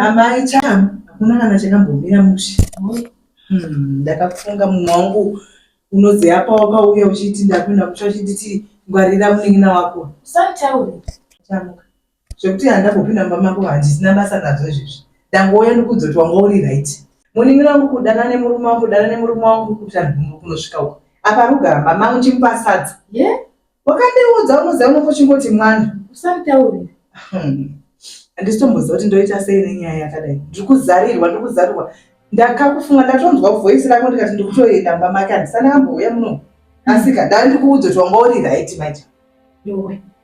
amai cham hakuna kana chakambomira mushe hmm, ndakafunga munhu wangu unozi apa wakauya uchiti ndapinda kutsva uchinditi ngwarira munin'ina wako chamuka Zvekuti handambopinda mumba mako handisina basa nazvo izvezvi. Ndangouya ndikuudza kuti wanga uri right. Munin'ina wangu kudana nemurume wangu kudana nemurume wangu kuti handibvumbi kunosvika uko. Apa rugara mama vangu ndichimupa sadza. Ye? Yeah? Wakandiudza unoziva unongo chingoti mwana. Usanditaure. Handisitomboziva kuti ndoita sei nenyaya yakadai. Ndiri kuzarirwa, ndiri kuzarirwa. Ndakakufunga ndatonzwa voice rako ndikati ndiri kutoenda mumba make handisana ambouya muno. Asika, ndandikuudza kuti wanga uri right maita. Yowe.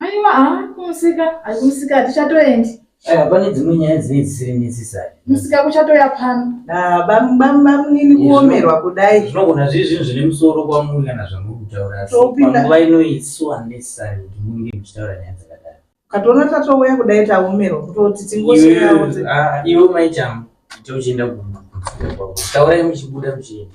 Aiwa haa kumusika ari kumusika hatichatoendi. Aiwa pane dzimwe nyaya dzinenge dzisiri necessary. Musika kuchatoya pano. Ah, bam- bam- bamunini Izvo- kuomerwa kudai zvinogona zviri zvinhu zvine musoro kwamuri kana zvamuri kutaura asi Topinda. panguva ino it's so unnecessary kuti munge muchitaura nyaya dzakadaro ukatoona tatouya kudai taomerwa kutoti Iwe- tingosvikawo dze- ah, iwe maichamu ita uchienda ku- ku- taurai muchibuda muchienda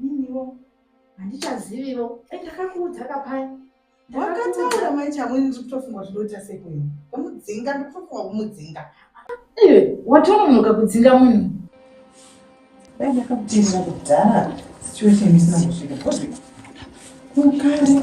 Niniwo handichaziviwo. Eh, ndakakuudza kapaya. Wakataura manje amweni ndiri kutofunga kuti ndoita sekwenu. Kumudzinga ndiri kutofunga kumudzinga. Eh, watononoka kudzinga munhu. Dai ndakakuteerera kudhara situation isina kusvika. Kukare.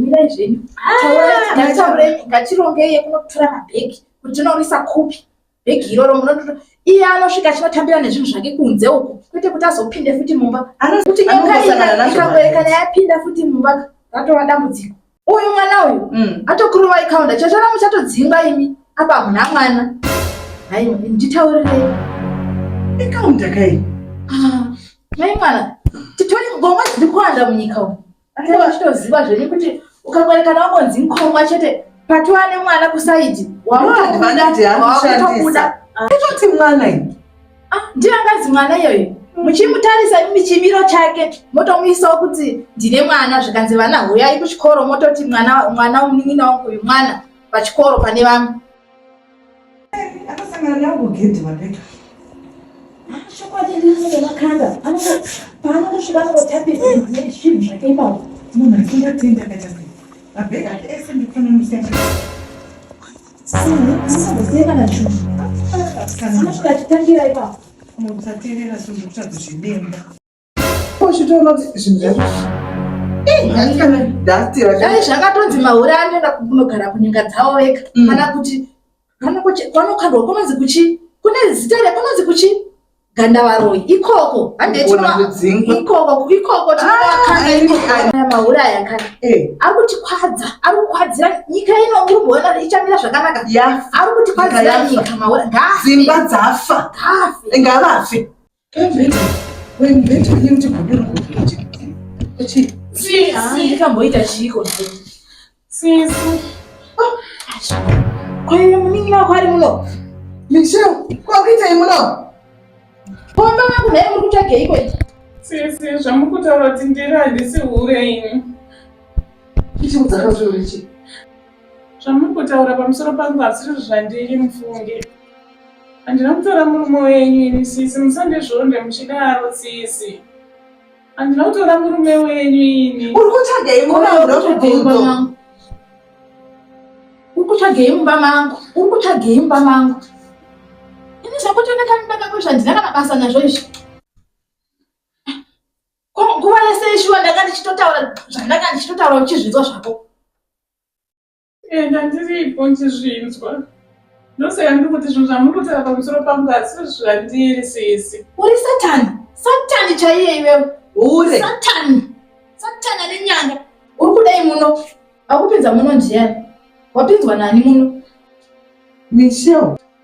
Mirai zvenyu. Ngatirongei yekunotora mabhegi kuti tinoisa kupi bhegi iroro munotora iye anosvika achinotambira nezvinhu zvake kunze uko kwete kuti azopinde futi mumba anokuti ikaerekana yapinda futi mumba ratova dambudziko uyu mwana uyu mm. atokurovai kaunda chachana muchatodzingwa imi apa hamuna mwana hai nditaurirei ikaunda kai ah, mai mwana titori ngoma dziri kuwanda munyika umu achitoziva zveni kuti ukakwerekana wangonzi nkomwa chete patova nemwana kusaidi wakutokuda kutoti mwana Ah, ndiyo angazi mwana iyoyo muchimutarisa imi chimiro chake motomuisawo kuti ndine mwana zvikanzi vana huyai kuchikoro mototi mwana mwana munin'ina wangu uyu mwana pachikoro pane vamwe akasangana nangu gedhi mabeka chokwadi ndinenge makanda anenge paanongosvika anongotapisa zvinhu zvake ipapo munhu asingatenda akaita sei mabeka ese ndikufanira musiyana dai zvakatonzi mahure anoenda kunogara kunyika dzavo vega mm. kana kuti vanokandwa kunonzi kuchi kune zita rekunonzi kuchi gandavaroyi ikoko handeikoko tinovakanamaura ah, aya kana eh. ari kutikwadza ari kukwadzira nyika ino uri kuona ichamira zvakanaka ari kutikwadziira nyika maura dzimba dzafa ngavafe ndikamboita chiiko Sisi. Kwa hiyo mimi na kwani mno. Michelle, kwa kita mno. Pomba wangu naye mkutage iko iko. Sisi, zvamukutaura kuti ndiri handisi hure ini. Ichi mudzaka zviro ichi. Zvamukutaura pamusoro pangu asiri zvandiri mufunge. Handina kutora murume wenyu ini sisi, musandizvonde muchidaro sisi. Andina kutora murume wenyu ini. Uri kutsvagei mumba mangu? Uri kutsvagei mumba mangu? Uri kutsvagei mumba mangu? Ini zvakutoneka mimba kako zvandina kana basa nazvo izvi. Ko nguva yese ishuwa ndanga ndichitotaura zvandanga ndichitotaura uchizvinzwa zvako. and andiripo ndizvinzwa ndosaka ndiri kuti zvinhu zvamurikutaura pamusoro pangu asi zvandiri sisi uri satani satani chaiye iwewe hure satani satani ane nyanga uri kudai muno akupinza muno ndiyani wapinzwa nani muno michel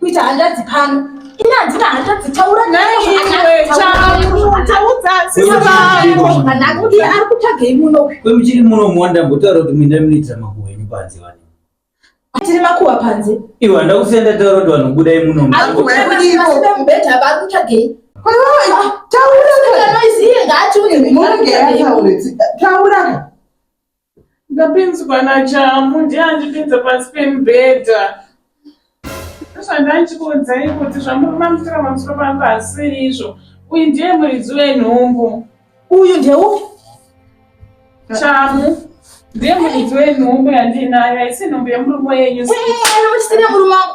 kuita hanzvadzi pano ini handina hanzvadzi taura naye ari kutsvagei muno kwemuchiri muno mwanda mbotaura kuti muinda munoitira makuhwa enyu panze vani tiri makuhwa panze iwe handa kusenda taura kuti vanhu budai muno mubhedha vari kutsvagei taura taura Ndapinzwa naChamu ndiye andipinza pasi pemubhedha ndozvandachikuudzai kuti zvamuri mamutira pamusoro pangu hasiri izvo uyu ndiye muridzi wenhumbu uyu ndeu Chamu ndiye muridzi wenhumbu yandiinayo haisi nhumbu yemurume yenyu murume wangu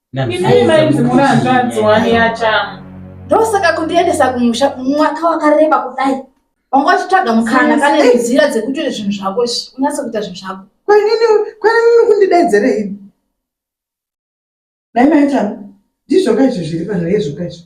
Inini mainzi muri hanzvadzi wani yachamu. Ndosaka kundiendesa kumusha mwaka wakareba kudai. Wanga wachitsvaga mukana kane nzira dzekutoita zvinhu zvako izvi. Unase kuita zvinhu zvako. Kwenini kwenini kundidedzera ini. Dai maichamu. Ndizvo kaizvo zviri pano yezvo kaizvo.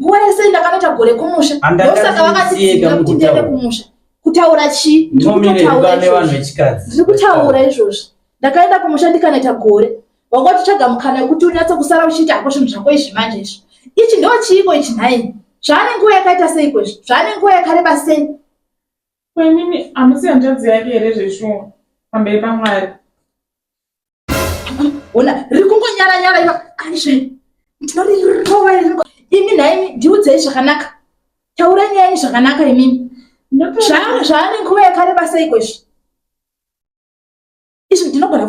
nguva yese ndakanoita gore kumusha ndosaka vakatiziva kuti ndiende kumusha kutaura chii ndiri kutaura izvozvo ndakaenda kumusha ndikanoita gore wanga uchitsvaga mukana wekuti unyatse kusara uchiita hako zvinhu zvako izvi manje izvo ichi ndo chiiko ichi nhaini zvaane nguva yakaita seiko izvi zvaane nguva yakareba sei kwenini hamusi hanzvadzi yake here zveshuwa pamberi pamwari ona riri kungonyara nyara iva aizve ndinorirova imi nhaimi ndiudzei zvakanaka taurai nyaya yenyu zvakanaka imimi zvaane nguva yakareba seiko izvi izvi ndinogona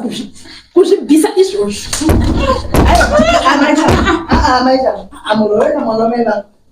kuzvibvisa izvozvo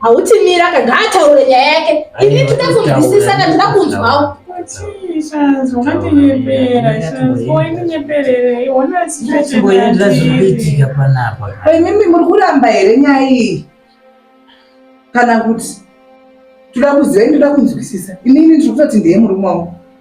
hauti mira ka ngaataure nyaya yake ini tinoda kunzwisisa ka tinoda kunzwawo imimi muri kuramba here nyaya iyi kana kuti toda kuziva ini toda kunzwisisa inini ndiri kutoti ndiye murume wangu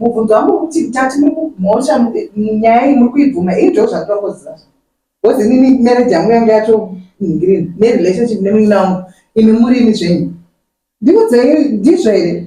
mubvunzo wangu kuti tati mhosva nyaya iyi muri kuibvuma ii ndo zvatinokoziva bcause inini marriage yangu yange yatonhingirini nerelationship nemuina wangu imi muri imi zvenyu ndikudzai ndizvo here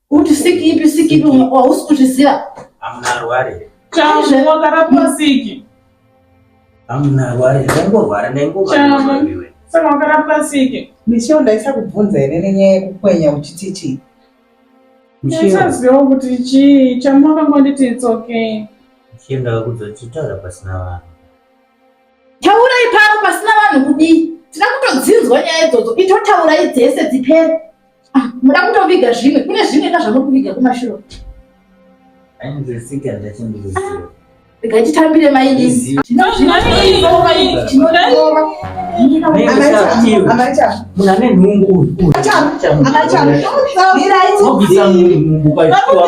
Kuti siki ipi siki ipi hausi kuzviziva. Amuna arware. Chaizve wakarapiwa siki. Amuna arware. Ndaingorwara ndaingorwara. Saka wakarapiwa siki. Michelle ndaisa kubvunza here nenyaya yekukwenya uchiti chii? Ndichaziva kuti chii chamwakangonditi it's okay. Michelle ndakakuudza kuti taura pasina vanhu. Taura ipano pasina vanhu kudii? Tinoda kutodzinzwa nyaya idzodzo. Itotaurai dzese dzipere. Ah, muda kutoviga zvimwe kune zvimwe ka zvamuri kuviga kumashuro ainzwisika ndachindiziva rega titambire mainini munhu ane nhumbu uyu obvisa nhumbu kwaitoa